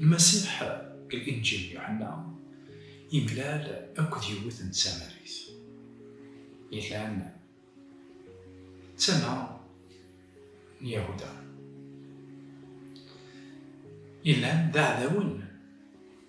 Lmasiḥ deg Linǧil n Yuḥenna yemlal akked yiwet n tsamarit. Ilan d tama n Yahuda. Ilan d aɛdawen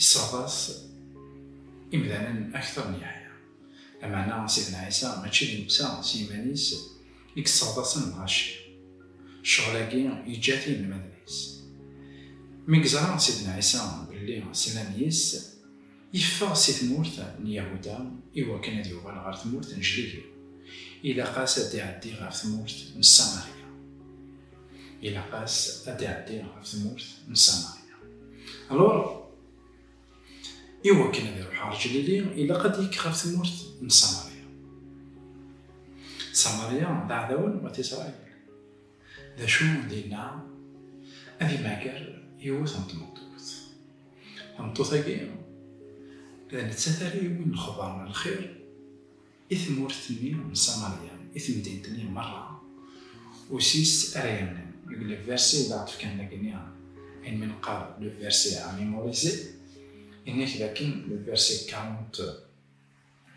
Iṣṣeɛḍas imdanen akteṛ n Yeḥya. Lameɛna Sidna Ɛisa mačči d netta s yiman-is i yesseɛḍasen lɣaci. Ccɣel-agi yeǧǧa-t i yinelmaden-is. Mi yeẓra Sidna Ɛisa belli slan yis-s, yeffeɣ si tmurt n Yahuda iwakken ad yuɣal ɣer tmurt n Jlilu. Ilaq-as ad d-iɛeddi ɣer tmurt n Samaṛya. Ilaq-as ad d-iɛeddi ɣef tmurt n Samaria. Alors, i wakken ad iruḥ ɣer Ǧlili, ilaq ad d-yekk ɣef tmurt n Samaria. Samaria d aɛdawen n wat Isṛayil. D acu dinna? Ad imager yiwet n tmeṭṭut. Tameṭṭut-agi, d nettat ara yewwin lexbar n lxir I tmurt-nni n Samarya, i temdint-nni merra, usis ara yernan. Deg le verset i d aɣ-d-fkan dagi, ayen mi neqqar le verset à mémoriser, yenna-k dakken le verset 40,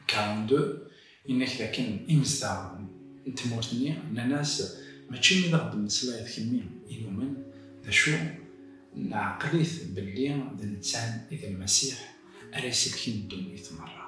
42, yenna-k dakken imezdaɣ n tmurt-nni nnan-as, Mačči imi d aɣ-d-temmeslayeḍ kemmi i numen, d acu, neɛqel-it belli d nettan i d Lmasiḥ ara iselken ddunit merra.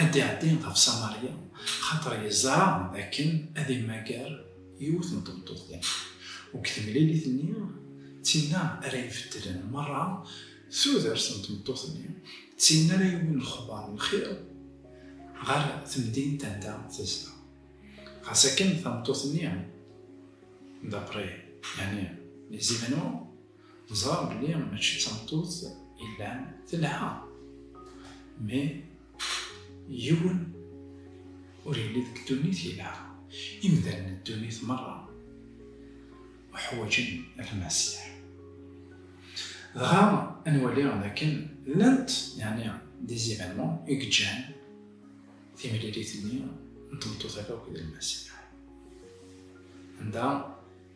ad d-iɛeddi ɣef Samarya, xaṭer yeẓra dakken ad immager yiwet n tmeṭṭut din. U deg temlilit-nni, d tinna ara ibeddlen merra tudert n tmeṭṭut-nni, d tinna ara yewwin lexbar n lxir ɣer temdint anda tezdeɣ. Ɣas akken tameṭṭut-nni, d'après, yeɛni les événements, Ẓran belli mačči d tameṭṭut yellan telha, mais yiwen ur yelli deg ddunit yelha. Imdanen n ddunit merra uḥwaǧen lmasiḥ. Dɣa ad nwali dakken llant yeɛni des événements i yeǧǧan timlilit-nni n tmeṭṭut-agi akked lmasiḥ. Anda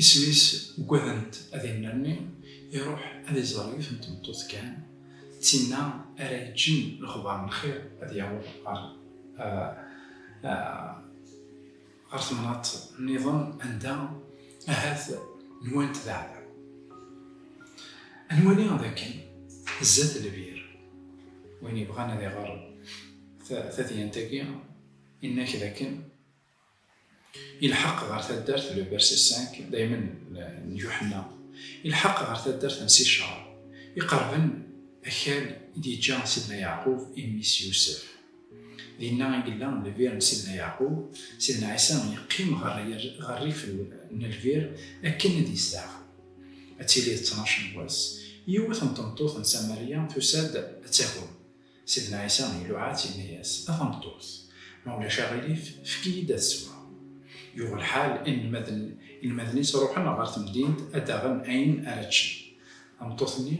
Isem-is ugadent ad innerni iruḥ ad iẓer yiwet n tmeṭṭut kan, d tinna ara yeǧǧen lexbar n lxir ad yaweḍ ɣer ɣer temnaḍt niḍen anda ahat nwant d aɛdaw. Ad nwali d akken zdat lbir, win yebɣan ad iɣer tadyant-agi, inna-k d akken Ilḥeq ɣer taddart le verset 5 daymen n Yuḥenna, ilḥeq ɣer taddart n Sicar, iqerben akal i d-yeǧǧa Sidna Yeɛqub i mmi-s Yusef. Dinna i yella lbir n Sidna Yeɛqub, Sidna Ɛisa yeqqim ɣer rrif n lbir akken ad yesteɛfu. Ad tili d ttnac n wass, yiwet n tmeṭṭut n Samarya tusa-d ad tagem. Sidna Ɛisa iluɛa-tt, yenna-yas, A tameṭṭut, ma ulac aɣilif, efk-iyi-d ad sweɣ. Yuɣ lḥal, inelmaden-is ruḥen ɣer temdint ad d-aɣen ayen ara ččen. Tameṭṭut-nni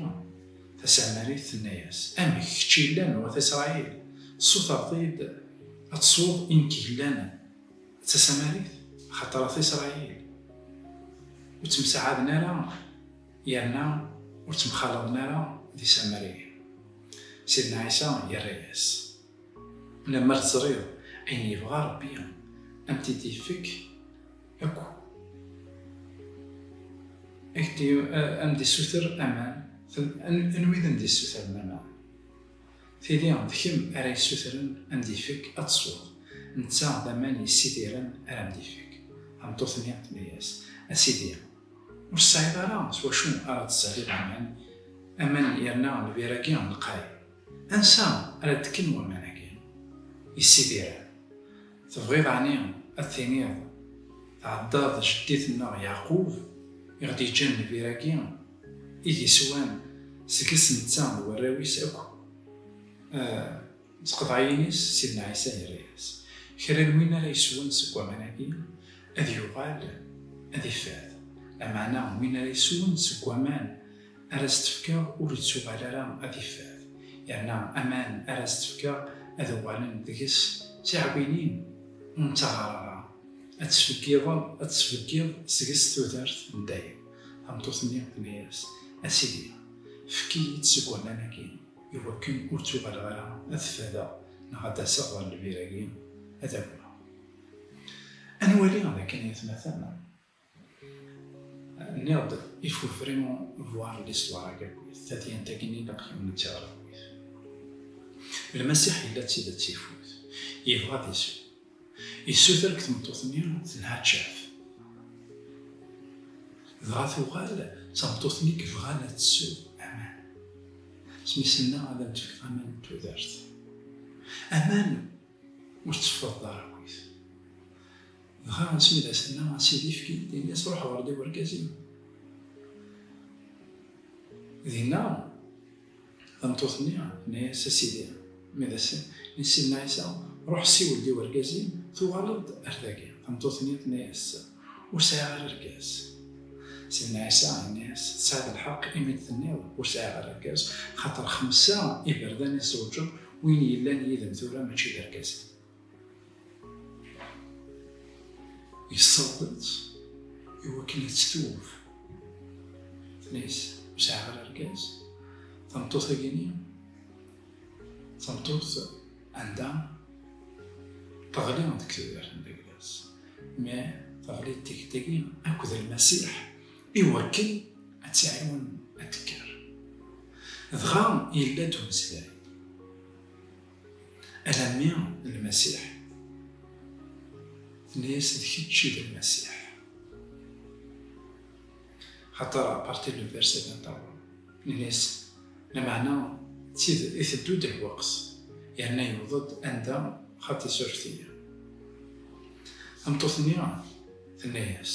tasamarit tenna-yas, Amek, kečč yellan n wat Isṛail, tessutreḍ-iyi-d ad tesweḍ i nekk yellan d tasamarit? Axaṭer at Isṛail ur ttemsaɛaden ara. Yerna ur ttemxalaḍen ara d isamariyen. Sidna Ɛisa yerra-yas, Lemmer teẓriḍ ayen yebɣa Rebbi, a m-t-id-ifek akk, a m-d-issuter aman. Anwa i d am-d-yessutren aman? Tili d kemm ara yessutren a m-d-ifek ad tesweḍ, netta d aman yessidiren ara m-d-ifek. Tameṭṭut-nni tenna-yas, A Sidi! Ur tesɛiḍ ara s wacu ara d-tesserriḍ aman, aman yerna lbir-agi lqay. Ansa ara d-kken waman-agi yessidiren? Tebɣiḍ ɛni ad d-tiniḍ tɛeddaḍ jeddi-tenneɣ Yeɛqub i ɣ-d-yeǧǧan lbir-agi i d-yeswan seg-s netta d warraw-is akk? D tqeḍɛiyin-is, Sidna Ɛisa yerra-yas, Kra n win ara yeswen seg waman-agi, ad yuɣal ad ifad. Lameɛna win ara yeswen seg waman ara s-d-fkeɣ ur ittuɣal ara ad ifad, yerna aman ara s-d-fkeɣ ad uɣalen deg-s d tiɛwinin ur nettaɣar ara, ad tesbeggiḍ seg-s tudert n dayem. Tameṭṭut-nni tenna-yas, A Sidi, fek-iyi-d seg waman-agi. Iwakken ur ttuɣaleɣ ara ad t-fadeɣ neɣ ad d-aseɣ ɣer lbir-agi ad agmeɣ. Ad nwali d akken i atmaten. Nniɣ-d, il faut vraiment voir l'histoire à Gaguit, tadyant-agi n ilaq yemnet i Ɣerguit. Lmasiḥ yella d tidet ifut, yebɣa ad isew. Yessuter deg tmeṭṭut-nni telha tcaf. Dɣa tuɣal d tameṭṭut-nni yebɣan ad tessew aman. Smisenna ad am-d-fkeɣ aman n tudert. Aman ur tetteffeḍ ara akkit. Dɣa asmi d as-tenna a sidi efk-iyi-d, ini-as ruḥ ɣer-d i wergaz-im. Dinna. Tameṭṭut-nni tenna-yas, A Sidi, mi d ass-n, i Sidna Ɛisa, ruḥ siwel-d i wergaz-im, tuɣaleḍ-d ar dagi. Tameṭṭut-nni tenna-yas, Ur sɛiɣ ara argaz. Sidna Ɛisa yenna-yas, Tesɛiḍ lḥeqq imi d-tenniḍ, Ur sɛiɣ ara argaz, axaṭer xemsa iberdan i tzewǧeḍ, win yellan yid-m tura mačči d argaz-im. Yessaweḍ-tt i wakken ad tt-twuf. Tnez, ur sɛiɣ ara argaz. Tameṭṭut-agi-nni, tameṭṭut anda teɣli deg tudert n Deglas. Ma teɣli d tikti-agi akked Lmasiḥ i wakken ad tt-iɛiwen ad tekker. Dɣa yella-d umeslay. Alammi d Lmasiḥ. Tenna-yas, d kečč i d Lmasiḥ. Xaṭer à partir du verset 21, nenna-yas, lameɛna d tid iteddu-d lweqt, yerna yewweḍ-d anda xa tisureft-nni. Tameṭṭut-nni tenna-yas.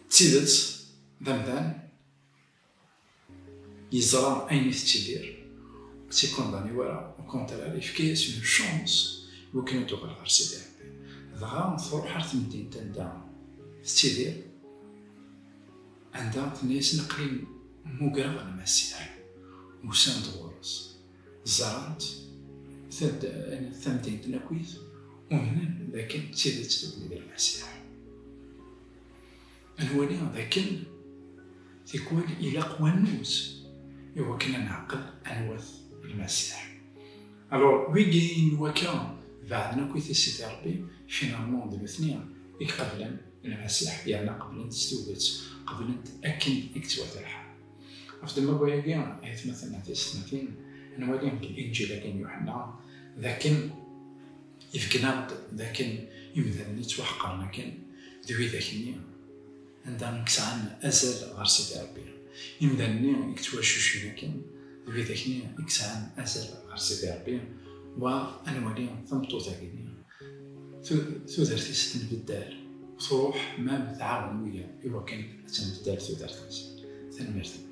D tidet, d amdan, yeẓra ayen i tettidir, ur tt-ikundani wara, u kontrar, yefka-as une chance i wakken ad d-tuɣal ɣer Sidi Rebbi. Dɣa truḥ ar temdint anda tettidir, anda tenna-yasen aql-i mmugreɣ d Massiah, usan-d ɣur-s, ẓran-t, tamdint n akkit, umnen d akken d tidet d wid n Massiah. Ad nwali d akken tikwal ilaq wannuz i wakken ad neɛqel anwa-t Lmasiḥ. Alors, wigi n wakka beɛden akk i tissit i Rebbi, finalement d nutni i iqeblen Lmasiḥ yerna qeblen-t s tuget, qeblen-t akken i yettwata lḥal. Ɣef ddemma n wayagi, ay atmaten, ay tiysetmatin, nwali deg Linǧil-agi n Yuḥenna d akken, Ibeggen-aɣ-d d akken imdanen i ttwaḥeqren akken d widak-nni anda i yesɛan azal ɣer Sidi Rebbi. Imdanen-nni i yettwacucfen akken d widak-nni i yesɛan azal ɣer Sidi Rebbi, wa ad nwali tameṭṭut-agi-nni tudert-is tenbeddal, truḥ, mam tɛawen wiyaḍ i wakken ad tenbeddal tudert-is. Tanemmirt-nneɣ.